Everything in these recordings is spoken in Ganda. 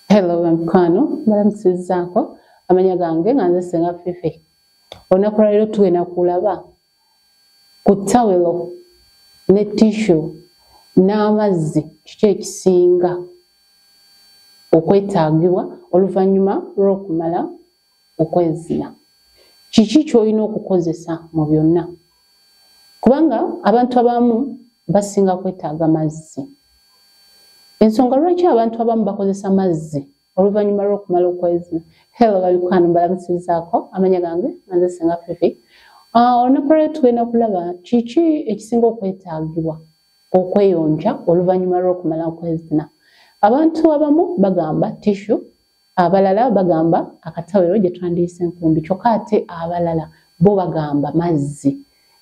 hello bamikwano balamusizaako amanya gange nga nze senga fifi olunaku lwaliro tugenda kulaba ku tawelo ne tishu n'amazzi kiki ekisinga okwetaagibwa oluvannyuma lw'okumala okwezina kiki kyolina okukozesa mu byonna kubanga abantu abamu basinga kwetaaga mazzi ensonga lwaki abantu abamu bakozesa mazzi oluvannyuma lw'okumala okwezina helo babikwano mbalamusizaako amanya gange anze singa fifi ah, olunaku lwali tugenda kulaba kiki ekisinga okwetaagibwa okweyonja oluvannyuma lw'okumala okwezina abantu abamu bagamba tishu abalala bagamba akatawero gye twandiyise enkumbi kyokka ate abalala bo bagamba mazzi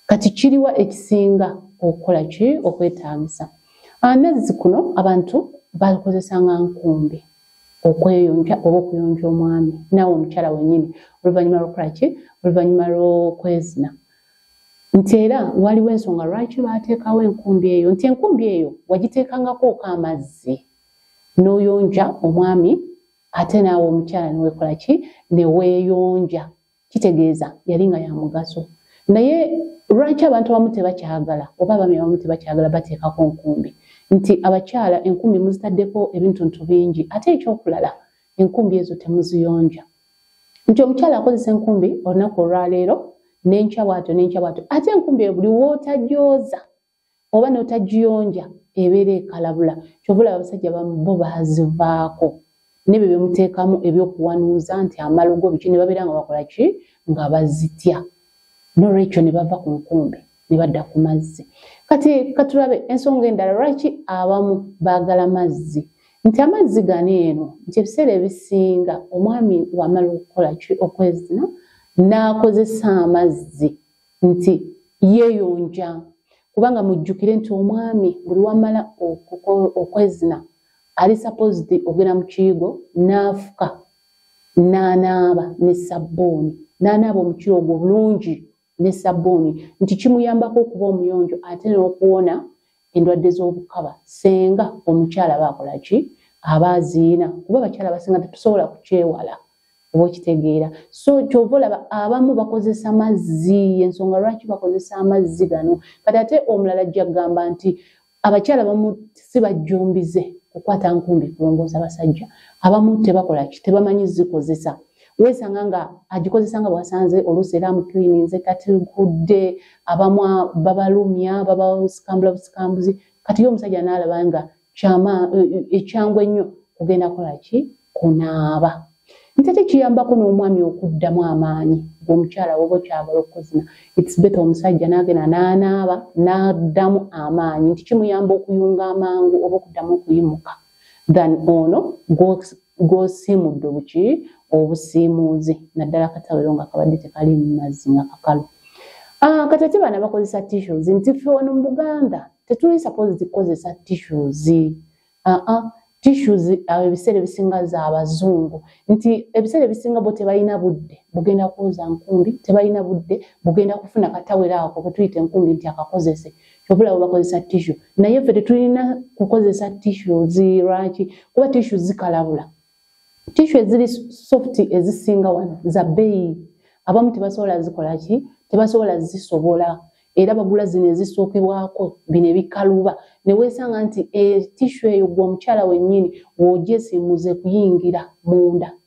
kati kiriwa ekisinga okukola ki okwetaagisa amazzi kuno abantu balikozesa nga nkumbi okweyonja oba okuyonja omwami naawe omukyala wenyini oluvannyuma lwokukola ki oluvannyuma lwokwezina nti era waliwo ensonga lwaki baateekawo enkumbi eyo nti enkumbi eyo wagiteekangako oka amazzi n'oyonja omwami ate naawe omukyala newekola ki neweeyonja kitegeeza yali nga ya mugaso naye lwaki abantu abamu tebakyagala oba abami abamu tebakyagala bateekako nkumbi nti abakyala enkumbi muzitaddeko ebintuntu bingi ate ekyokulala enkumbi ezo temuziyonja nti omukyala akozesa enkumbi olunaku olwaleero nenkya bwato nenkya bwato ate enkumbi ebuli wootajooza oba n'otagiyonja ebeera ekalabula kyova olaba abasajja bo bazivaako nebyo byemuteekamu ebyokuwanuuza nti amalogo biki ne babeera nga bakola ki nga bazitya nolwekyo ne bava ku nkumbi ne badda ku mazzi kati katulabe ensonga endala lwaki abamu baagala mazzi nti amazzi gani eno nti ebiseera ebisinga omwami wamala okukola ki okwezina n'akozesa amazzi nti yeeyonja kubanga mujjukire nti omwami buli wamala okwezina ali supposed ogenda mu kiyigo n'afuka n'anaaba ne sabbuuni n'anaaba omukiro ogwo obulungi ne sabbuuni nti kimuyambako okuba omuyonjo ate n'okuwona endwadde z'obukaba senga omukyala baakola ki aba aziina kuba abakyala basinga tetusobola kukyewala oba okitegeera so kyova olaba abamu bakozesa mazzi yensonga lwaki bakozesa amazzi gano kati ate omulala ajja kugamba nti abakyala bamu si bajjumbize kukwata nkumbi kulongoosa basajja abamu tebakola ki tebamanyi zikozesa wesanga nga agikozesa nga bwasanze oluusi era amukirininze kati nkudde abamu babalumya babasikambula busikambuzi kati ye omusajja naalaba nga kyama eh, eh, ekyangu ennyo kugenda kola ki kunaaba nti ate kiyambako n'omwami okuddamu amaanyi gwomukyala woba okyagala okukozina its beta omusajja nagenda nanaaba naddamu amaanyi nti kimuyamba okuyunga amangu oba okuddamu okuyimuka than ono gwosiimudde buki obusiimuuzi naddala katawero nga kabadde tekali mumazzi nga kakalu ah, kati ate baana bakozesa tissues nti fe wano mu buganda tetuli suppose zikozesa tissues aa ah, ah, tissues awo ebiseera ebisinga za abazungu nti ebiseera ebisinga bo tebalina budde bugenda kuwoza nkumbi tebalina budde bugenda kufuna katawero ako ketuyita enkumbi nti akakozese obula bakozesa tishu naye ffe tetulina kukozesa tishu zirwaki kuba tishu zikalabula tishu eziri soft ezisinga wano za bbeeyi abamu tebasobola zikola ki tebasobola zisobola era bagula zino ezisookebwako bino ebikaluba ne weesanga nti etishu eyo gwe omukyala wennyini w'ogyesimuze kuyingira munda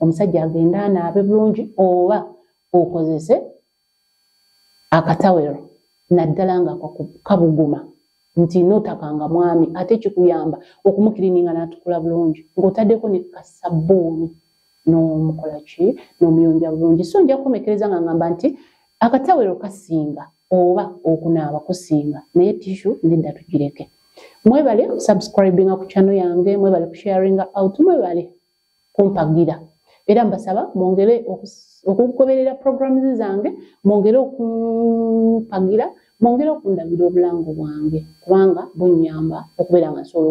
omusajja agende anaabe bulungi oba okozese akatawero naddala nga kabuguma nti notakanga mwami ate kikuyamba okumukirininga natukula bulungi ngaotaddeko ne kasabbuuni nomukola ki nomuyonja bulungi so nja kukomekereza nga ngamba nti akatawero kasinga oba okunaaba kusinga naye tishu nedda tugireke mwebale subscribinga ku chano yange mwebale kusharinga out mwebale kumpagira era mbasaba mwongere okugoberera programu zange mwongere okumpagira mwongere okundabira obulamu bwange kubanga bunyamba okubeera nga nsobola